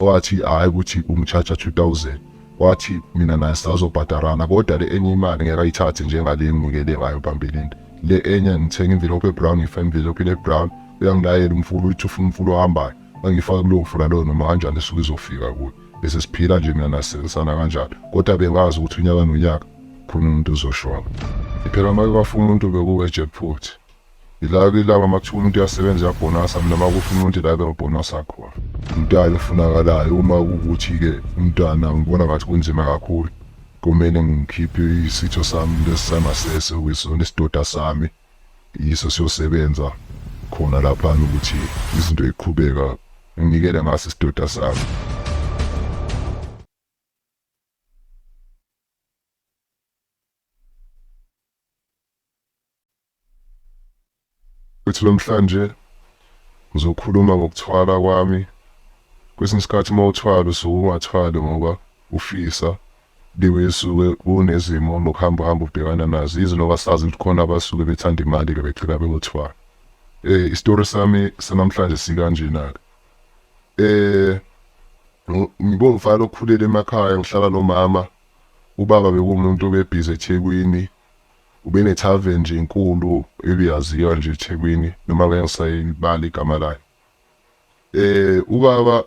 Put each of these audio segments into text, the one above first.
wathi hhayi ukuthi umtshaja 2000 wathi mina naye sazobhadarana kodwa le enye imali ngeke ayithathe njengale enginikele ngayo phambilini le enye ngithenga imvilophu ebrown ngifa imvilophu ebrown uyangilayela umfula uyithi ufuna umfula ohambayo angifake kulowo mfula loyo noma kanjani esuke izofika kuyo bese siphila nje mina nasebenzisana kanjalo kodwa bengazi ukuthi unyaka nonyaka khona umuntu uzoshona phela uma kwafuna umuntu bekuwe jackpot Ila kilaba makuthiwa umuntu uyasebenza uyabhonasa mina makusho umuntu ila bengibhonasa khona. Umntwana ofunakalayo uma kukuthi-ke umntwana ngibona ngathi kunzima kakhulu kumele ngikhiphe isitho sami lesi sangasese okuyisona isidoda sami yiso siyosebenza khona laphana ukuthi izinto iqhubeka nginikele ngaso isidoda sami Futhi namhlanje ngizokhuluma ngokuthwala kwami. Kwesinye isikhathi uma uthwala usuke ungathwali ngoba ufisa liwe isuke kunezimo nokuhamba uhamba ubhekana nazo yizo noba sazi ukuthi khona abasuke bethanda imali-ke begcina beyothwala. Um isitori sami sanamhlanje sikanjena-ke. Um ngiwumfana okhulele emakhaya ngihlala nomama, ubaba bekuwumuntu obebhizi eThekwini. Ubene tavern nje enkulu ebiyaziwa nje eThekwini noma ngeke ngisayibali igama layo. Eh ubaba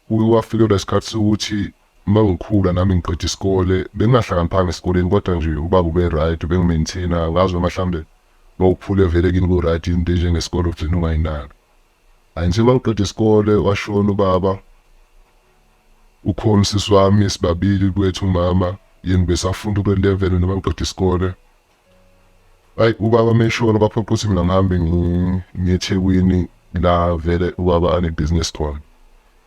uke wafikelwa isikhathi sokuthi uma ngikhula nami ngiqeda isikole bengingahlakaniphanga esikoleni kodwa nje ubaba ube right ubengimaintaina ngazi noma mhlawumbe mawukhule vele kini ku-right into enjengesikole ugcina ungayinaki Ay nje mangiqeda isikole washona ubaba ukhona usisi wami sibabili kwethu umama yena besafunda kule level noma ngiqeda isikole ayi ubaba meshona baphoqa ukuthi mina ngihambe ngiyethekwini la vele ubaba anebhizinisi khona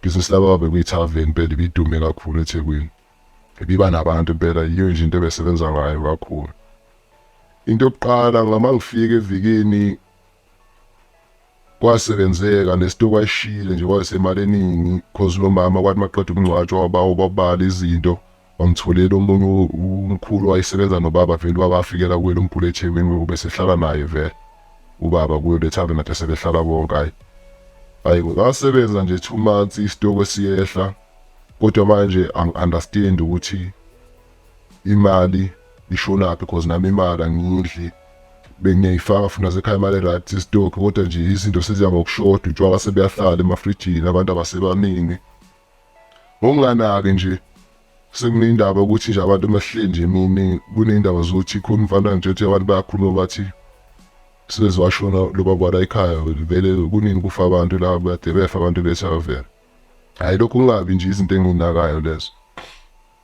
ibhizinisi lababa bekuyithaveni impela ibidume kakhulu ethekwini ibiba nabantu impela yiyo nje into ebesebenza ngayo kakhulu into yokuqala ngama ngifika evikini Kwasebenzeka lento kwayishile nje kwayisemali eningi cause lo mama kwathi maqeda ukungcwatshwa wabawo babala izinto wangitholela omunye umkhulu wayesebenza nobaba vele ubaba afikela kuye lo mkhulu eThekwini ubesehlala naye vele ubaba kuyo le thaveni nathi sebehlala bonke hayi hayi ngasebenza nje two months isitoko siyehla kodwa manje angi-understand ukuthi imali ishonaphi because nami imali angiyidli bengiyayifaka futhi nasekhaya imali right stock kodwa nje izinto seziya ngokushoda utshwala sebuyahlala emafrijini abantu abasebaningi ngokunganaki nje sekunendaba ukuthi nje abantu bahleli nje mini kunendaba zokuthi khona umfana nje uthi abantu bayakhuluma bathi sezwashona loba kwala ekhaya vele kunini kufa abantu la bade befa abantu besavela hayi lokhu kungabi nje izinto enginakayo lezo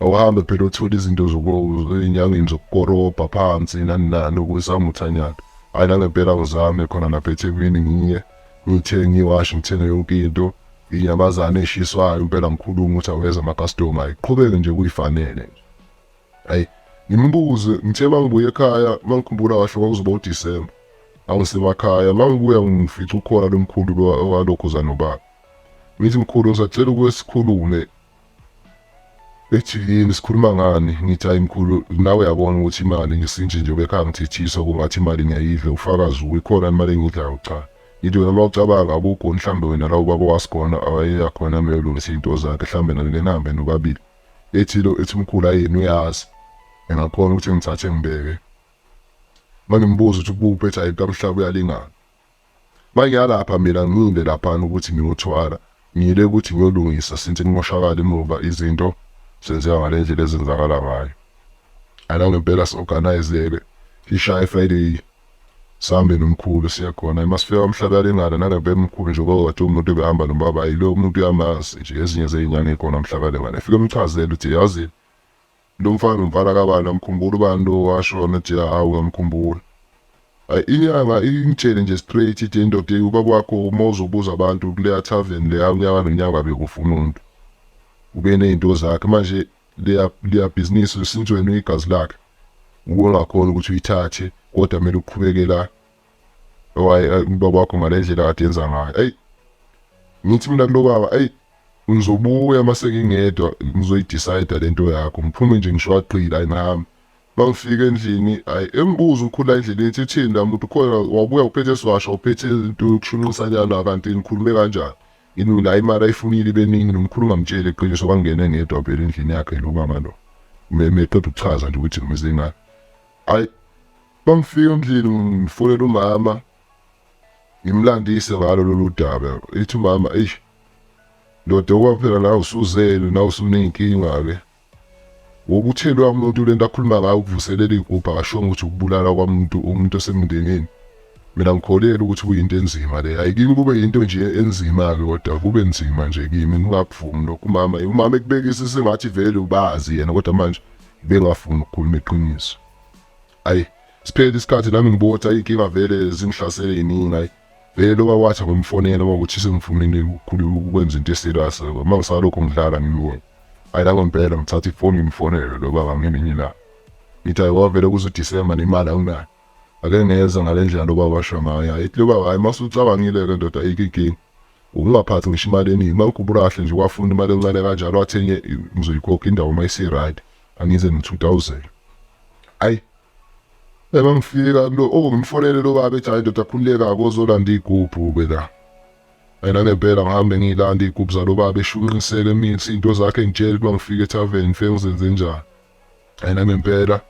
awuhambe phela uthole izinto enyangeni zokukorobha phansi nani nani ukuzama uthanyana hhayi nangempela ngizame khona lapha ethekwini ngiye ngithenge iwashi ngithenge yonke into inyamazane eshiswayo impela ngikhulume ukuthi aweza amakastoma iqhubeke nje kuyifanele nje hayi ngimbuze ngithe uma ngibuya ekhaya uma ngikhumbula kahle kwakuzoba udisemba angisemakhaya uma ngibuya ngifica ukhona lo mkhulu walokhu zanobaba ngithi mkhulu ngisacela ukusikhulume ethi yini sikhuluma ngani ngithi hayi mkhulu nawe yabona ukuthi imali ngesinje nje bekha ngithithiswa kungathi imali ngiyayidla ufakazi uyikhona imali engidlayo cha ngithi wena uma ucabanga akukho mhlawumbe wena la ubaba wasikhona awayeya khona ameyolungisa iy'nto zakhe mhlawumbe nangenambe nobabili ethilo ethi umkhulu ayini uyazi engakhona ukuthi ngithathe ngibeke uma ngimbuza ukuthi ubuphi ethi hayi kamhlaba uyalingana Mangiyalapha mina ngiyile laphana ukuthi ngiyothwala. Ngiyile ukuthi ngiyolungisa since kumoshakala emuva izinto zenzeka ngale ndlela ezenzakala ngayo. Ana ngempela si-organize-ke sishaye Friday sihambe nomkhulu siye khona uma sifika umhlabalingana nangempela umkhulu nje kwakade umuntu ebehamba nobaba yilo umuntu uyamazi nje ezinye zey'nyanga ey'khona umhlabalingana efike umchazele ukuthi yazi Lomfana umfana kabani amkhumbula ubani lo washona nje hawu ngamkhumbula. Ay inyanga ingitshele nje straight ithi indoda eyi ubaba wakho uma uzobuza abantu kuleya tavern leya unyaka nonyaka bekufuna umuntu. Ube nezinto zakhe manje leya leya business since wena uyigazi lakhe. Ukungakhona ukuthi uyithathe kodwa kumele uqhubeke la owaye ayi ubaba wakho ngale ndlela kade yenza ngayo ayi ngithi mina kulo baba ayi ngizobuya uma sengingedwa ngizoyidicide le nto yakho ngiphume nje ngisho aqile ayi nami uma ngifika endlini ayi engibuza ukhula endleleni ethi thini la muntu khona wabuya uphethe siwasha uphethe into yokushunqisa njalo kanti ngikhulume kanjani yini la imali ayifunile beningi nomkhulu ngamtsheli iqiniso kwangena ngedwa phela endlini yakhe lo mama lo meqeda ukuchaza nje ukuthi ngimeze ngani ayi Bangifika endlini ngifonela umama ngimlandise ngalo lolu daba ethi umama eish ndoda okwaphela nawe usuzele nawe usuney'nkinga-ke wokuthelwa umuntu le nto akhuluma ngayo ukuvuselela iy'gubhu akashongo ukuthi ukubulala kwamuntu umuntu osemndenini mina ngikholelwa ukuthi kuyinto enzima le hayi kimi kube yinto nje enzima-ke kodwa kube nzima nje kimi ngingakuvumi lokho umama umama ekubekise sengathi vele ubazi yena kodwa manje bengafuni ukukhuluma iqiniso Ayi siphele isikhathi nami ngibuka ukuthi ayinkinga vele zingihlasele yiningi ayi vele loba wathi akumfonela uma ukuthi sengifumile ukukhuluma ukwenza into eserious uma ngisalokho ngidlala ngimyeni ayi nako ngempela ngithatha ifoni ngimfonele lo baba ngelinye ilanga ngithi ayi wavele kuzoDisemba nemali anginayo ake ngeza ngale ndlela lo baba washo ngayo ayi lo baba hayi uma usucabangile-ke ndoda ayikho inkinga ukungaphathi ngisho imali eningi uma ukhumbula kahle nje wafuna imali encane kanjalo athenye ngizoyikhokha indawo uma isi-right Angize ngithutawuzela. Ayi Eba ngifika lo okungimfonele lo baba ethi hayi ndoda khululeka akozolanda igubhu ke la. Mina ngempela ngihambe ngilanda igubhu zalo baba eshunqiseke imithi into zakhe ngitshela uma ngifika etavern ngifike ngizenze njani. Mina ngempela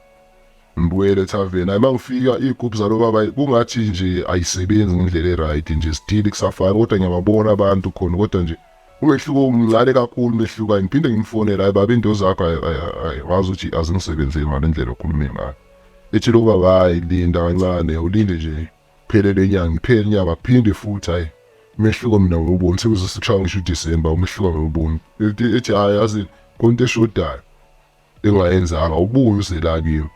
ngibuyele etavern ayima ngifika igubhu zalo baba kungathi nje ayisebenzi ngendlela eright nje still kusafana kodwa ngiyababona abantu khona kodwa nje Umehluko umncane kakhulu umehluko angiphinde ngimfonele hayi baba into zakho hayi wazi ukuthi azingisebenzeli ngale ndlela okhulume ngayo ethi lo baba hayi linda kancane ulinde nje phele le nyanga ngiphele inyanga phinde futhi hayi umehluko mina ngiwuboni sekuze sishaya ngisho uDecember umehluko ngiwuboni ethi hayi yazi konke eshodayo engayenzanga ubuye uzelakini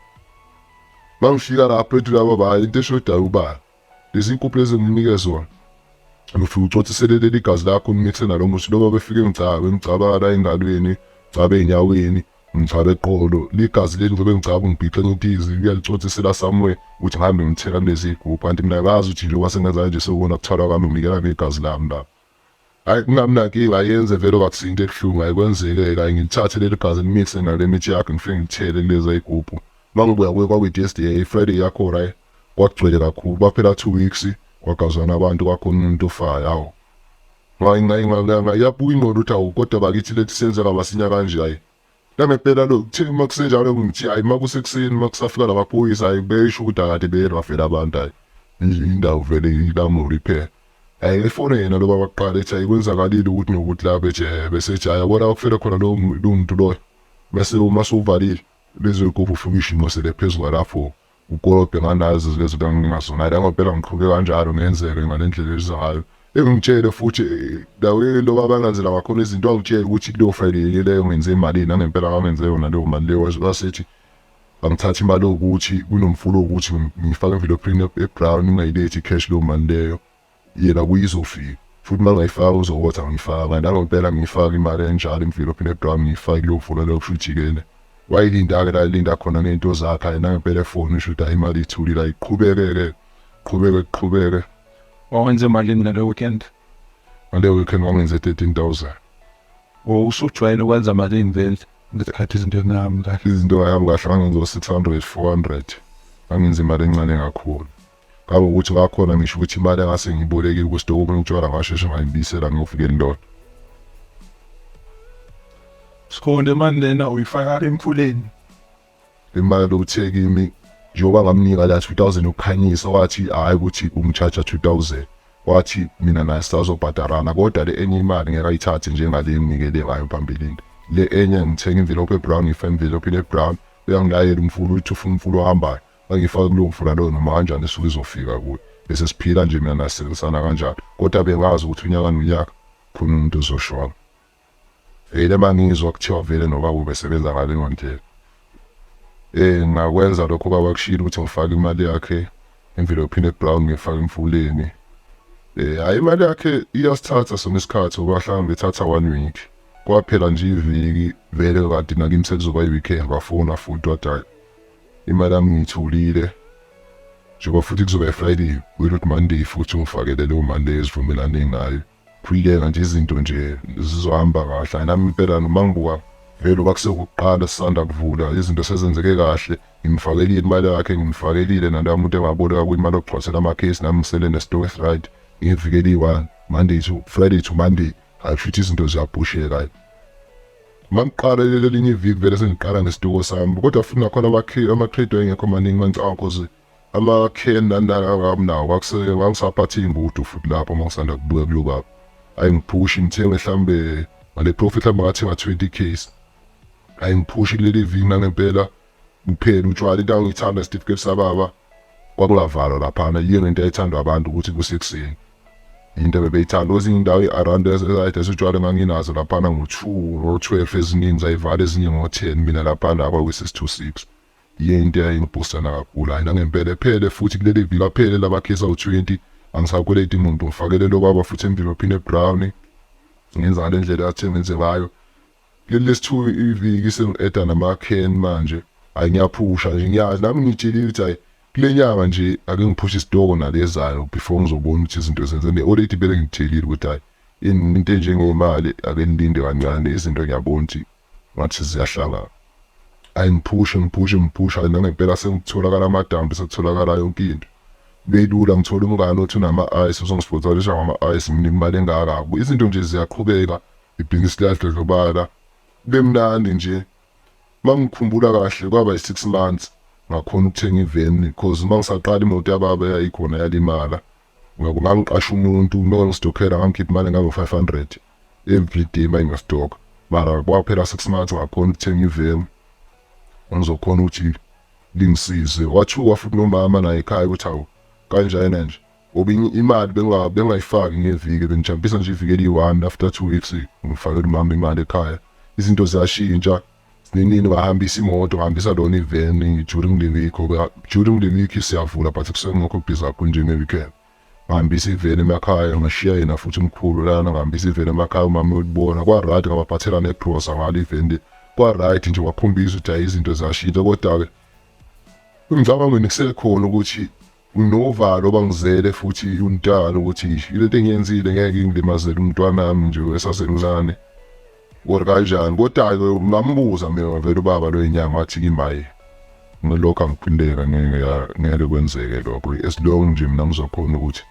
mangifika lapho ethi laba baba into eshodayo ubani Lezi nkukhu lezi enginike zona ngifike ucotsisele leli gazi lakho ngimithe nalo muthi loba befike ngigcaba ngigcabala engalweni ngigcabe ey'nyaweni ngigcabe eqolo ligazi leli ngizobe ngigcaba ngibhixe ngitizi uyalicotsisela somewhere ukuthi ngihambe ngithela kulezi iy'gubhu kanti mina ngazi ukuthi njengoba sengenza kanje sekubona kuthalwa kwami nginikela ngegazi lami lapho Hayi kungamnankinga ayenze vele wakuthi into ebuhlungu ayikwenzeke kanye ngithathe leli gazi limise ngale mithi yakhe ngifike ngithele kuleza igubhu mangibuya kuye kwakwi-DSDA Friday yakho right kwagcwele kakhulu kwaphela two weeks kwagazwana abantu kwakhona umuntu ofayo hawu iyabuya ingqondo ukuthi awu kodwa bakithi leti senzeka masinya kanje hhayi Nangempela lokhu kuthe uma kusenjalo ngithi ayi uma kusekuseni uma kusafika la maphoyisa ayi besho ukuthi akade beye bafela abantu ayi indawo vele ilamuli phela ayi efone yena loba baqala ethi ayi kwenzakalile ukuthi nokuthi la beje besejaya bona bakufela khona lowo muntu loyo bese uma suvalile lezo yigubu ufike ishimo sele phezu kwalapho Ukolobhe nganazi lezinto engingazona la ngempela ngiqhuke kanjalo ngenzeke ngalendlela elizayo engitshele futhi dawile nto babalandzela ngakhona izinto angitshele ukuthi kuleyo friday leyo ngenze imali nangempela kangenze yona leyo mali leyo wasethi angithathe imali yokuthi kunomfulo ukuthi ngifake envelophini ebrown ungayilethi cash leyo mali leyo yena kuye izofika futhi uma ngayifaka uzokotha ngiyifaka nangompela ngiyifaka imali enjalo emvilopini ebudwa ngiyifaka kuyovula leyo kusho ujikele wayilinda-ke la ilinda khona ngey'nto zakhe aye nangempela efoni usho ukuthi hayi imali ithulile ayiqhubeke-ke qhubeke kuqhubeke wawenza emalini ngale weekend ngale weekend wangenze thirteen thousand usujwayele ukwenza malini vele ngesikhathi izinto ezinami kahle izinto ayami kahle ngangenza six hundred four hundred angenza imali encane kakhulu Kangokuthi kwakhona ngisho ukuthi imali engase ngiyibolekile kusitoko okunye utshwala ngasheshe ngayibisela ngiyofikela indoda. Sikhonde mani lena uyifaka emfuleni. Imali lokuthe kimi njengoba ngamnika la 2000 yokukhanyisa wathi hhayi ukuthi ungitshaja 2000 wathi mina naye sisazobhadarana kodwa le enye imali ngeke ayithathe njengale enginikele ngayo phambilini le enye ngithenga imvilophu ebrown ngifa imvilophu le-brown uyangilayela umfula uthi ufuna umfula ohambayo Angifaki kulowo mfula loyo noma kanjani isuke izofika kuye. Bese siphila nje mina naye sisebenzisanana kanjalo. Kodwa bengazi ukuthi unyaka nonyaka khona umuntu ozoshona. Vele uma ngizwa kuthiwa vele nobaba ubesebenza ngaleyo ndlela. Eh ngakwenza lokho baba kushilo ukuthi ngifake imali yakhe emvelophini ebrown ngifake emfuleni. Eh hayi imali yakhe iyasithatha sona isikhathi ngoba mhlawumbe ithatha one week. Kwaphela nje iviki vele kanti nakimi sekuzoba i-weekend bafona futhi wathi hhayi Imali yami ngiyitholile njengoba futhi kuzoba Friday wena uthi Monday futhi ungifakele leyo mali leyo esivumelane ngayo phuyeka nje izinto nje zizohamba kahle ayinami impela noma ngibuka vele uba kusekuqala sisanda kuvula izinto sezenzeke kahle ngimfakelile imali yakhe ngimfakelile naloya muntu engaboleka kwimali okugcwasela amakhesi nami ngisele nesitokes right ngivikeliwa monday to friday to monday Hayi futhi izinto ziyaphusheka hayi. Mangiqala lelo linye iviki vele sengiqala ngesituko sami kodwa futhi nakhona amakhe ama-trade engekho maningi mangicabanga cause ama-can nandala angamunawo kwakuse wangisaphatha iy'mbudu futhi lapho uma ngisanda kubuya kulo baba. Hhayi ngiphushi ngithenge mhlawumbe ngale profit mhlawumbe ngathenga 20 case. Hhayi ngiphushi kuleli viki nangempela kuphela utshwala into ayithanda isitifiketi sababa kwakungavalwa laphana yini into ayithandwa abantu ukuthi kusekuseni into bebeyithanda kwezinye indawo i-around esayithi esitshwala enganginazo laphana ngo-two ngo-twelve eziningi zayivala ezinye ngo-ten mina laphana akwakwi-six-two six yiyo into eyayingibhusana kakhulu hhayi nangempela ephele futhi kuleli viki aphele labakhisa u-twenty angisakweleti muntu ngifakelele okwaba futhi emvini ophine ebrown ngenza ngale ndlela athe ngenze ngayo Leli lesithu iviki sengi-eda namakheni manje. Hayi ngiyaphusha nje ngiyazi nami ngitshelile ukuthi hayi kule nyanga nje ake ngiphushe isitoko nalezayo before ngizobona ukuthi izinto zenze ne already vele ngithelile ukuthi hayi in- into enjengemali ake nilinde kancane izinto ngiyabona ukuthi ngathi ziyahlangana hayi ngiphushe ngiphushe ngiphushe hayi nangempela sekutholakala amadambi sekutholakala yonke into belula ngithola umngane othi unama-ice uzongisponsorisha ngama-ice nginika imali engaka izinto nje ziyaqhubeka Ibhizinisi liyadlondlobala. Kube mnandi nje. Uma ngikhumbula kahle kwaba yi-six months ngakhona ukuthenga iveni because uma ngisaqala imoto yababa yayikhona yalimala. Ngakho ngangiqasha umuntu uma ngistokhela ngangikhipha imali engango-five hundred everyday uma ngiyostokha. Mara kwaphela six months ngakhona ukuthenga iveni engizokhona ukuthi lingisize. Wathuka futhi nomama naye ekhaya ukuthi hawu kanjena nje. ngoba imali bengayifaki ngeviki bengijampisa nje iviki eliyi-one after two weeks ngifakela umama imali ekhaya izinto ziyashintsha ninini ngahambisa imoto ngihambisa lona iveni during the week ngoba during the week siyavula but kusengekho busy kakhulu njenge-weekend ngihambisa iveni emakhaya ngashiya yena futhi umkhulu lana ngihambisa iveni emakhaya umama uyolibona kwa-right ngabaphathela negrosa ngalo iveni kwa-right nje wakhombisa ukuthi hayi izinto ziyashintsha kodwa-ke engicabangweni kusekhona ukuthi Nginovalo bangizele futhi untana ukuthi ilento engiyenzile ngeke ingilimazele umntwanami nje esasemncane or kanjani kodwa-ke ngambuza mina vele ubaba lo inyanga wathi kimaye ngilokhu angiphindeka ngeke ngeke kwenzeke lokho as long nje mina ngizokhona ukuthi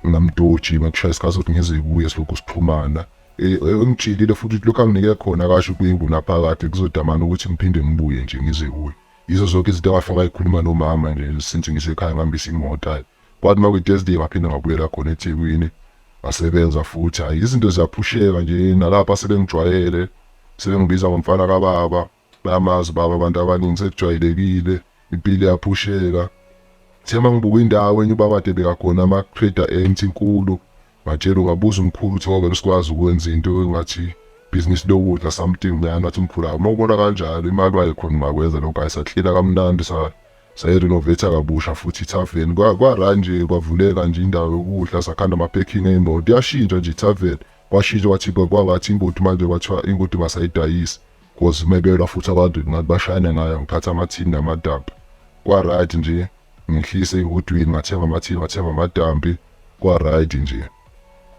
ngamdoji makushaya isikhathi sokuthi ngize kuye silokhu siphumana e, e, engijilile futhi lokhu anginike khona kasho kwingu naphakade kuzodamana ukuthi ngiphinde ngibuye nje ngize kuye Yizo zonke izinto engafika ayikhuluma nomama nje since ngisekhaya ngihambisa imoto ayi. Kwathi uma kwi-Thursday ngaphinde ngabuyela khona eThekwini ngasebenza futhi hhayi izinto ziyaphusheka nje nalapha sebengijwayele sebengibiza ngomfana kababa bayamazi baba abantu abaningi sekujwayelekile impilo iyaphusheka Sema ngibuka indawo enye ubaba Debeka khona ama-trader empty inkulu Ngatshela ngabuza umkhulu ukuthi ngoba besikwazi ukwenza into engathi business lokudla something lana athi umkhulu hayi uma ubona kanjalo imali wayekhona ungakwenza lokho hayi saklina kamnandi sa sayirenovate kabusha futhi ithaveni kwara nje kwavuleka nje indawo yokudla sakhanda ama-packing ey'moto yashintsha nje ithaveni kwashintsha kwathi kwangathi ingodi manje kwathiwa ingodi masayidayisi Cause umekelwa futhi abantu ngathi bashayane ngayo ngiphatha amathini namadambi. Kwa right nje ngihlise ihotwini ngathenga amathini ngathenga amadambi kwa right nje.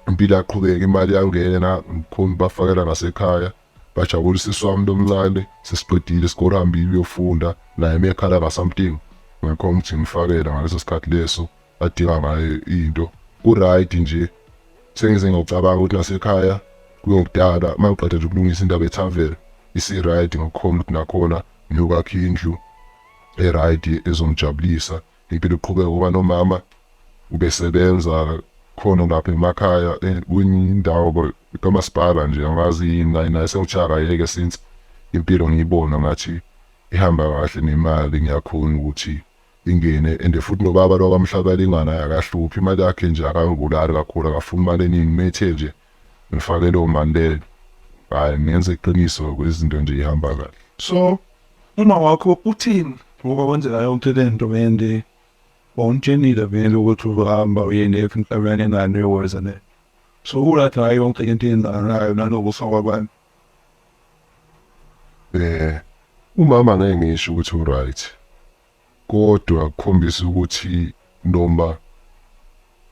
Impilo yaqhubeka imali yangena ngikhona bafakela ngasekhaya bajabulisa iswami lomncane sesiqedile isikole hambile uyofunda naye mekhala ngasamting ngakho ngithi ngifakela ngaleso sikhathi leso adinga ngayo into kuright nje sengize ngiyocabanga ukuthi nasekhaya kuyokudala uma ngiqeda nje ukulungisa indaba ethavela isi-right ngokukhona ukuthi nakhona ngiyokwakha indlu e-right ezongijabulisa impilo iqhubeke ngoba nomama ubesebenza khona lapha emakhaya eh, kwindawo kamasipala nje angazi yini naye naye sewuchaka yeke since impilo ngiyibona ngathi ihamba kahle nemali ngiyakhona ukuthi ingene and futhi nobaba lo kamhlabelingwa naye akahluphi imali yakhe nje akangibulali kakhulu akafuni imali eningi methe nje ngifake leyo mali leyo hayi ngenze iqiniso kwezinto nje ihamba kahle so uma wakho uthini ngoba wenzela yonke le nto and wawumtshenile vele ukuthi uzohamba uyende emhlabeni engane yokweza le so ulathi hayi yonke into eyenzakalayo nalokufa kwabantu Eh umama ngeke ngisho ukuthi uright kodwa kukhombisa ukuthi noma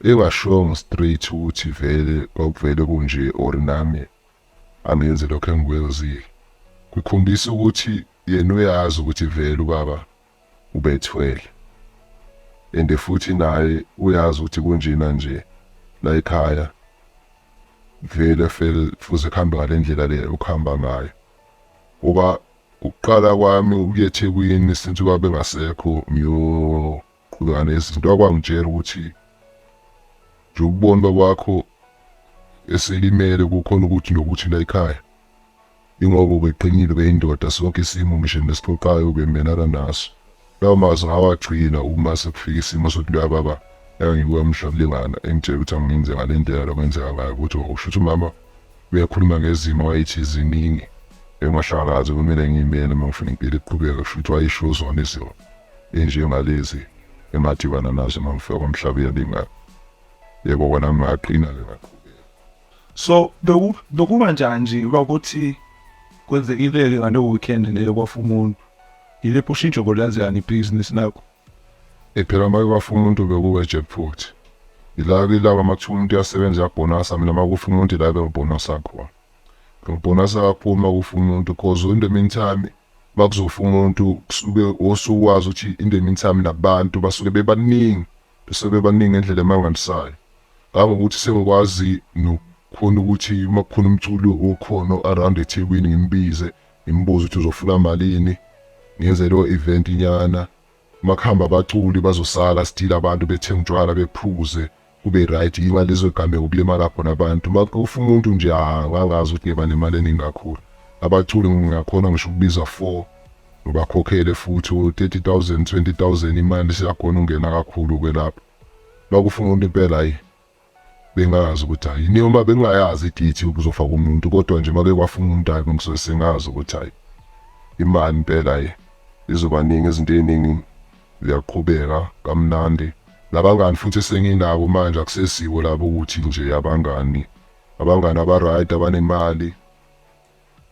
engashongo straight ukuthi vele kwakuvele kunje or nami angenzi lokho engikwenzile kukhombisa ukuthi yena uyazi ukuthi vele ubaba ubethwele and futhi naye uyazi ukuthi kunjena nje la ekhaya vele fele fuze kuhambe ngale ndlela le ukuhamba ngayo ngoba ukuqala kwami ukuya ethekwini since uba bengasekho ngiyoqhubeka nezinto akwangitshela ukuthi nje ukubona babakho eselimele kukhona ukuthi nokuthi la ekhaya Ingoba ubeqinile ubeyindoda sonke isimo ngisho nesiphoqayo ubemelana naso. Lawo mazwi ngawagcina uma sekufika isimo sokuthi loya baba engangibuka mhla kulingana engitshela ukuthi angenze ngale ndlela lokwenzeka ngayo ukuthi usho ukuthi umama uyakhuluma ngezimo wayethi ziningi engahlakazi kumele ngiyimele uma ngifuna impilo iqhubeke kusho ukuthi wayisho zona izimo enjengalezi engadibana nazo uma ngifika komhlaba uyalingana yebo kona ngingaqina-ke ngaqhubeka So beku bekuba njani nje uba kuthi kwenzekile-ke ngaleyo weekend leyo kwafa umuntu? Yiliphi ushintsho bolenzekani ibhizinisi lakho? Eh, phela uma kwafa umuntu bekuwe jackpot ila ilaba uma kuthiwa umuntu uyasebenza uyabhonasa mina uma kufa umuntu ila bengibhonasa khona ngibhonasa kakhulu uma kufa umuntu cause in the meantime uma kuzofa umuntu kusuke osuwazi ukuthi in the meantime nabantu basuke bebaningi Sebebaningi ngendlela emangalisayo kangokuthi sengikwazi nokukhona ukuthi uma kukhona umculi okhona o-around ethekwini ngimbize ngimbuze ukuthi uzofuna malini ngenze leyo event nyana uma kuhamba abaculi bazosala sidile abantu bethenga utshwala bephuze kube right yima lezo gameko kulimala khona abantu uma kufa umuntu nje angangazi ukuthi ngeba nemali eningi kakhulu abaculi ngingakhona ngisho ukubiza four Ngibakhokhele futhi u-30000 20000 imali siyakhona ungena kakhulu ke lapho. Bakufuna umuntu impela hayi. Bengazi ukuthi hayi niyoma bengayazi idithi ukuzofa kumuntu kodwa nje make kwafuna umuntu hayi ngisoze sengazi ukuthi hayi imali impela ye izobaningi izinto eziningi ziyaqhubeka kamnandi nabangani futhi senginabo manje akusesiwo labo ukuthi nje abangani abangani abaright abanemali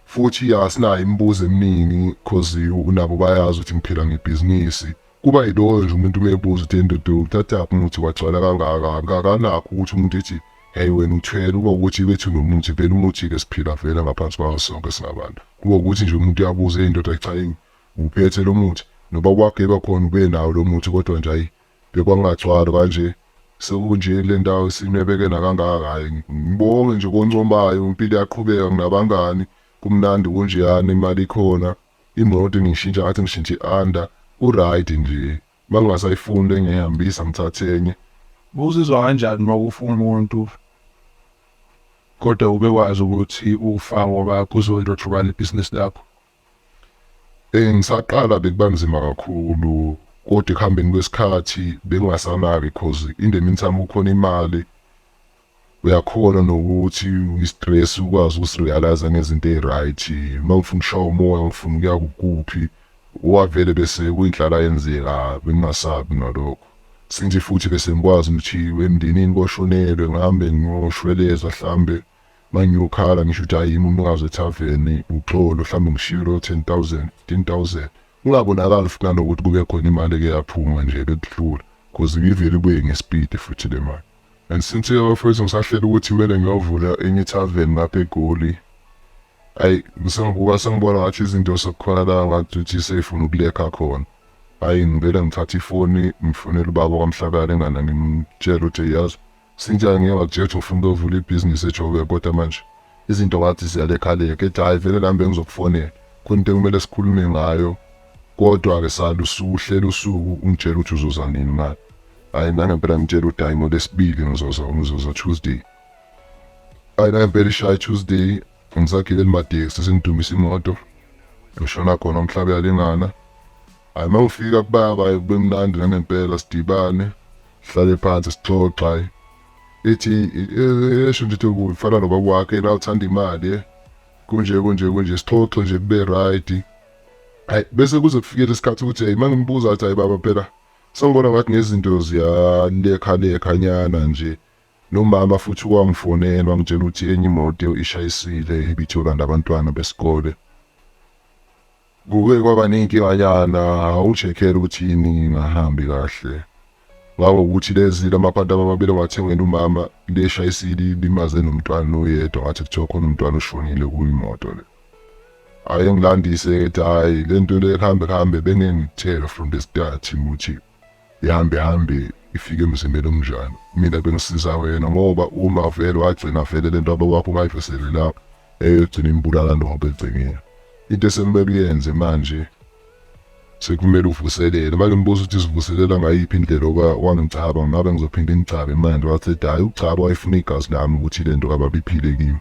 Futhi asinayo imibuzo eminingi cause nabo bayazi ukuthi ngiphila ngebhizinisi. Kuba yiloko nje umuntu uma ebuza ukuthi endoda uthathaphi umuthi wagcwala kangaka akakanakho ukuthi umuntu ethi hey wena uthwele kuba ukuthi bethu nomuthi vele umuthi-ke siphila vele ngaphansi kwawo sonke singabantu kuba ukuthi nje umuntu uyabuza eyindoda cha yini uphethe lo muthi noba kwageba khona ube nawo lo muthi kodwa nje ayi Bekwangagcwali kanje sekunje kule ndawo sinwebekela kangaka hhayi ngibonge nje koncomayo impilo iyaqhubeka nginabangani kumnandi kunjeyani imali ikhona imoto ngishintsha ngathi ngishintshe i-under ku-right nje uma ngingasayifuni le ngiyayihambisa ngithathe enye uzizwa kanjani uma kufa umuntu kodwa ubekwazi ukuthi ufa ngoba kuzolotshobana ibhizinisi lakho Eh ngisaqala bekubanzima kakhulu kodwa ekuhambeni kwesikhathi bengingasanaki cause in the meantime kukhona imali uyakhona nokuthi i-stress ukwazi ukusirealize ngezinto eyi-right uma ngifuna ukushaya umoya ngifuna ukuya kukuphi wavele bese kuyinhlala yenzeka bengingasabi nalokho since futhi bese ngikwazi ukuthi emndenini koshonelwe ngihambe ngiyoshweleza hlambe Mangiyokhala ngisho ukuthi ayimi umnikazi wethaveni uxolo mhlawumbe ngishiye loyo 10000 15000 kungabonakali futhi nanokuthi kube khona imali eke yaphuma nje bekudlula cause ngivele ibuye ngespeed futhi le mali and since abafowethu ngisahlela ukuthi kumele ngiyovula enye ithaveni ngapha egoli ayi ngisengibuka sengibona ngathi izinto sekukhona la ngathi ukuthi seyifuna ukulekha khona ayi ngivele ngithatha ifoni ngifonele ubaba kwamhlakala engana ngimtshela ukuthi yazi Cynthia ngeke wakujeje ufuna ukuyovula ibhizinisi ejobe kodwa manje izinto ngathi ziyalekhaleka ethi hhayi vele nami bengizokufonela khona into ekumele sikhulume ngayo kodwa-ke sala usuhlela usuku ungitshela ukuthi uzoza nini mali hhayi nangempela ngitshela ukuthi hhayi ngolesibili ngizoza ngizoza tuesday hhayi nangempela ishaya tuesday ngisagile limatekisi sengidumisa imoto ngishona khona umhlaba uyalingana hhayi uma ngifika kubaba bemnandi nangempela sidibane sihlale phansi sixoxa ethi esho nje ukuthi ufana nobaba wakhe la uthanda imali eh. kunje kunje kunje sixoxe nje kube right hayi bese kuze kufikele isikhathi ukuthi hayi mangimbuza athi hayi baba phela sengibona ngathi nezinto ziyalekha lekhanyana nje nomama futhi wangifonela wangitshela ukuthi enye imoto ishayisile ibithola nabantwana besikole Kuke kwaba ney'nkinganyana u-Jekhele ukuthi yini ingahambi kahle. Ngako ukuthi lezi lamaphanti amabili awathengela umama leshayisile ilimaze nomntwana oyedwa ngathi kuthiwa khona umntwana oshonile kuyimoto le. Ayengilandise ethi hhayi le nto le kuhambe kuhambe bengeke ngikuthele from the start ukuthi Ihambe hambe ifike emzimbeni omnjani mina bengisiza wena ngoba uma vele wagcina vele lento abe wakho ungayiveseli lapho eyogcina imbulala ndobe egcinile into esekumele uyenze manje sekumele uvuselele manje umbuzo ukuthi sivuselela ngayiphi indlela oba wangicaba ngabe ngizophinde ngicabe manje wathi hayi ucaba wayefuna igazi lami ukuthi lento kababiphile kimi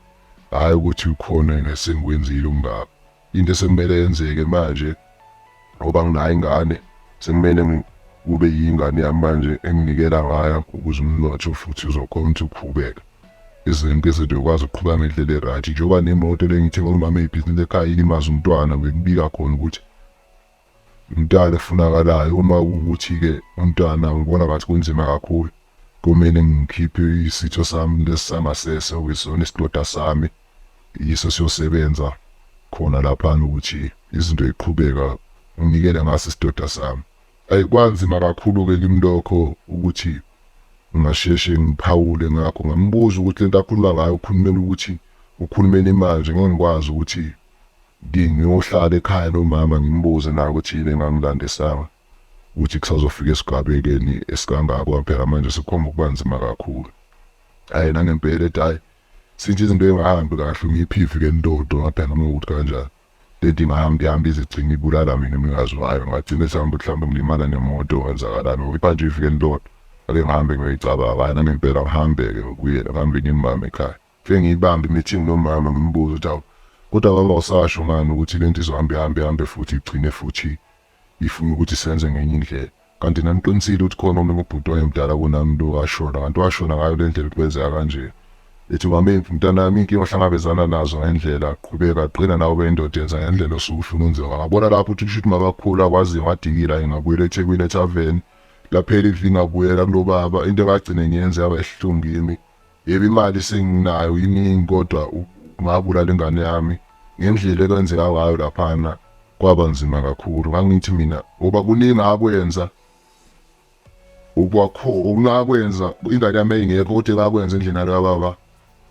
hayi ukuthi ukhona ngesengwenzile umngaba Into esekumele yenzeke manje ngoba nginayo ingane sekumele kube yingane yami manje enginikela ngayo ukuze umnotho futhi uzokhona ukuthi uqhubeke izinto izinto yokwazi ukuqhuba ngendlela e-right njengoba nemoto lengithenga umama ebhizinisi ekhaya ilimaza umntwana bekubika khona ukuthi Umntana efunakalayo uma kuwukuthi-ke umntana ngibona ngathi kunzima kakhulu kumele ngikhiphe isitho sami lesi sangasese okuyisona isidoda sami yiso siyosebenza khona laphana ukuthi izinto ziqhubeka nginikele ngaso isidoda sami ayi kwanzima kakhulu-ke kimi lokho ukuthi ngingasheshe ngiphawule ngakho ngambuza ukuthi lento akhuluma ngayo ukhulumela ukuthi ukhulumela imanje ngeke ngikwazi ukuthi Ngiyohlala ekhaya lomama ngimbuze naye ukuthi yini engangilandisanga ukuthi kusazofika esigabekeni esikangako phela manje sekukhomba ukuba nzima kakhulu. Hhayi nangempela ethi hhayi since izinto ey'ngahambi kahle ungiphifi ke ndodo ngaphela noma ukuthi kanjani lento ingahamba ihamba ize igcine ibulala mina umnikazi wayo ngagcine sihamba mhlawumbe ngilimala nemoto kwenzakalani ngoba iphanje ifike ndodo ake ngihambe ngiyoyicabanga hhayi nangempela ngihambe-ke ngibuyele ngihambe ngimbambe ekhaya Ngifike ngiyibambe i-meeting nomama ngimbuze ukuthi awu kodwa baba usasho ngani ukuthi le nto izohambe ihambe ihambe futhi igcine futhi ifuna ukuthi senze ngenye indlela kanti naniqinisile ukuthi khona omunye ubhuti wayemdala kunami lo washona kanti washona ngayo le ndlela ukwenzeka kanje ethi mame mntanami inkinga ohlangabezana nazo ngendlela qhubeka qina nawe ube indoda yenza ngendlela osuke ufuna unziwa ngabona lapho ukuthi kusho ukuthi makakhulu akwazi ngadikila ngingabuyela ethekwini ethaveni laphela ivingabuyela kulobaba into engagcine ngiyenze yaba esihlungimi Yebo imali senginayo iningi kodwa ngabulala ingane yami ngendlela ekwenzeka ngayo laphana kwaba nzima kakhulu ngangithi mina ngoba kuningi akwenza ukwakho ungakwenza ingane yami ingekho kodwa ngakwenza endlini yalo baba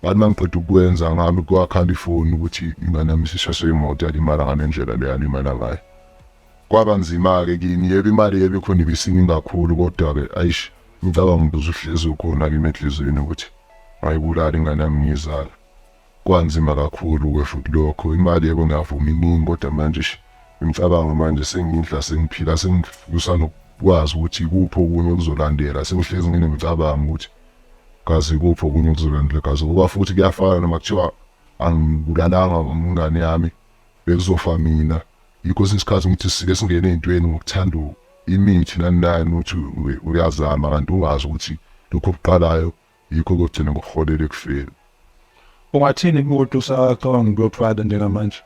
bathi mangiqeda ukwenza ngami kwakhala ifoni ukuthi ingane yami isishaswe imoto yalimala ngalendlela leyalimala ngayo Kwaba nzima-ke kimi, yebo imali yebo ikhona ibisiningi kakhulu kodwa-ke aish umcabango ubuzuhlezi ukhona kimi enhliziyweni ukuthi ngayibulala ingane yami ngiyizala. Kwanzima kakhulu-ke futhi lokho, imali yebo ngiyavuma iningi kodwa manje eish imicabango manje sengidla sengiphila sengifisa nokwazi ukuthi ikuphi okunye okuzolandela, sengihlezi nginemicabango ukuthi kazi ikuphi okunye okuzolandela kazi ngoba futhi kuyafana noma kuthiwa angibulalanga ingane yami. Bekuzofa mina. Yikho kwesinye isikhathi ukuthi sike singene ey'ntweni ngokuthanda imithi nani nani ukuthi u- uyazama kanti ungazi ukuthi lokho okuqalayo yikho kogcina kukuholela ekufeni. Ungathini kumuntu usacabanga ukuyothwala njengamanje?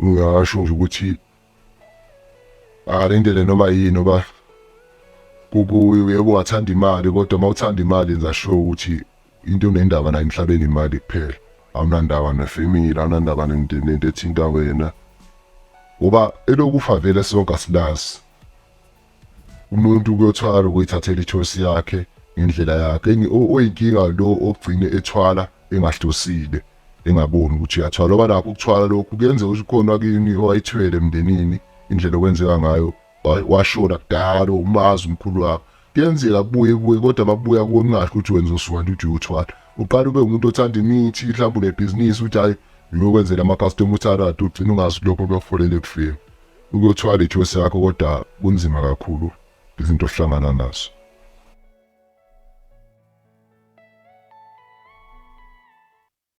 Ngingasho nje ukuthi akalindele noma yini oba kukuye uyebo wathanda imali kodwa uma uthanda imali yenza sure ukuthi into unendaba nayo emhlabeni imali kuphela awunandaba nefemile awunandaba nento ethinta wena ngoba elokufa vele sonke asilazi umuntu kuyothwala ukuyithathela ithosi yakhe ngendlela yakhe oyinkinga lo ogcine ethwala engahlosile engaboni ukuthi uyathwala ngoba nakho ukuthwala lokhu kuyenza ukuthi khona kini owayithwele emndenini indlela okwenzeka ngayo washona kudala umazi umkhulu wakho kuyenzeka kubuye kuye kodwa makubuya kuwe kungasho ukuthi wenza usuwanti uthi uyothwala uqala ube umuntu othanda imithi mhlawumbe unebhizinisi ukuthi hhayi ngiyokwenzela ama-customer uthanda ugcina ungazi lokho kuyokuholela ekufeni ukuyothwala ithosi yakho kodwa kunzima kakhulu izinto ohlangana nazo